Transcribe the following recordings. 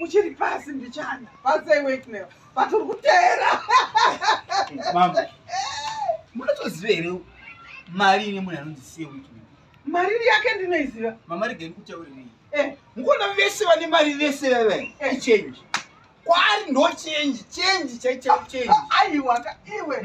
uchiri pasi mbichana pasei weknel but uri kuteera mama munotoziva here mari ine munhu anonzi siye weknel mari iri yake ndinoiziva mama regeni kutaurirei eh. mukona vese vane mari vese veve eh. ichange kwari ndo change change chaichao change aiwaka iwe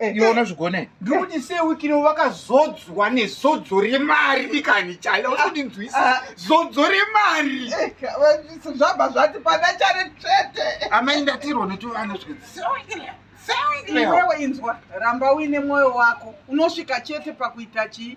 Eh, iwe unozvigone eh, ndiri kuti se wiki ino vakazodzwa nezodzo remari ikani chale usindinzwisi ah, ah. zodzo remari eh, zvabva zvati pana chare tsvete amai ndatirwa netuvana zviwewe inzwa ramba uine mwoyo wako unosvika chete pakuita chii